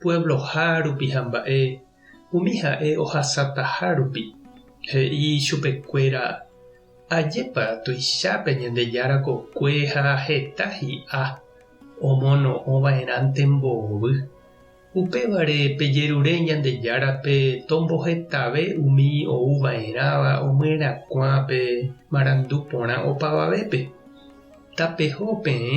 puebloha rupi ha mba'e umi ha'e ohasataha rupi, he'i chupekuéra, Ajépa tuicha pe Ñandejára kokue ha heta hi'a omono'õva'erãnte mbovy. Upévare pejerure Ñandejárape tombohetave umi ouva'erãva omyenyhẽkuã pe marandu porã opavavépe. Tapeho peẽ.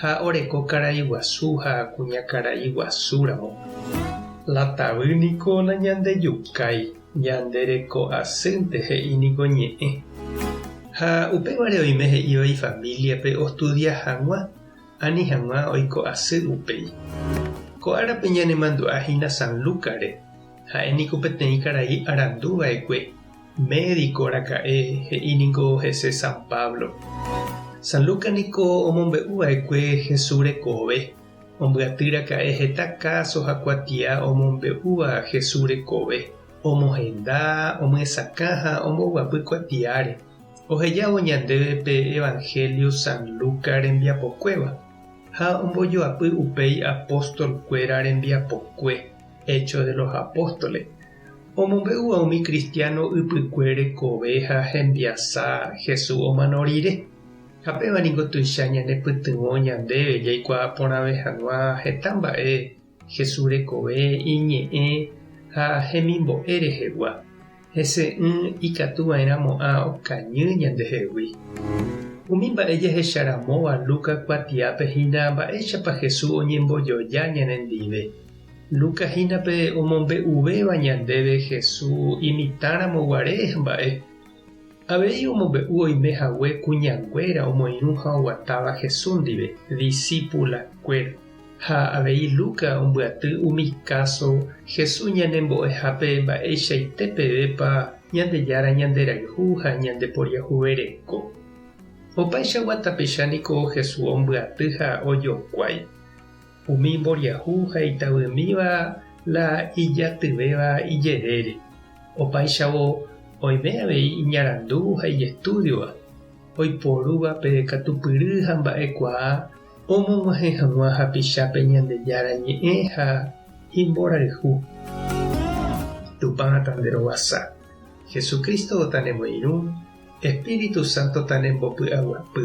ha oreko karai guasu ha kuñakarai guasu ramo. La tavy niko nañandejukái, ñande reko asýnte he'i niko ñe'ẽ. Ha upévare oime he'íva ifamíliape ostudia hag̃ua ani hag̃ua oiko asy upéi. Ko árape ñanemandu'a hína San Lúkare, ha'e niko peteĩ karai arandu va'ekue Médiko raka'e, he'i ningo hese San Pablo. San Lucas niko omombe'u va'ekue Jesús rekove. Ombyaty raka'e heta káso ha kuatia omombe'úva Jesús rekove, omohenda, omyesakã ha omboguapy kuatiáre. Ohejávo ñandéve pe Evangelio San Lucas rembiapokuéva, ha ombojoapy upéi apóstol kuéra rembiapokue, Hechos de los Apóstoles, Omombe'úva umi kristiáno ypykue rekove ha hembiasa Jesús omano rire. Ha péva ningo tuicha ñanepytyvõ ñandéve jaikuaa porãve hag̃ua heta mba'e Jesús rekove, iñe'ẽ ha hemimbo'e rehegua. Hese'ỹ ikatu va'erãmo'ã okañy ñandehegui. Umi mba'e jahecha ramóva Lucas kuatiápe hína mba'éichapa Jesús oñembojoja ñanendive. Lucas hína pe omombe'uvéva ñandéve Hesu imitãramo guare mba'e. Avei omombe'u oime hague kuñanguéra omoirũ ha oguatáva Hesu ndive, disípula kuéra. Ha avei Lucas ombyaty umi káso Hesu ñanembo'ehápe mba'eichaite pevépa Ñandejára ñanderayhu ha ñandeporiahuvereko. Opaichagua tapicha niko Hesu ombyaty ha ojokuái. Umi mboriahu ha itavymíva la ijatyvéva ijerére, opáichavo oime avei iñarandu ha ijestúdiova, oiporúva pe katupyry ha mba'ekuaa omog̃uahẽ hag̃ua hapichápe Ñandejára Ñe'ẽ ha imborayhu. Tupã tanderovasa, Jesucristo tanemoirũ, Espíritu Santo tanembopy'aguapy.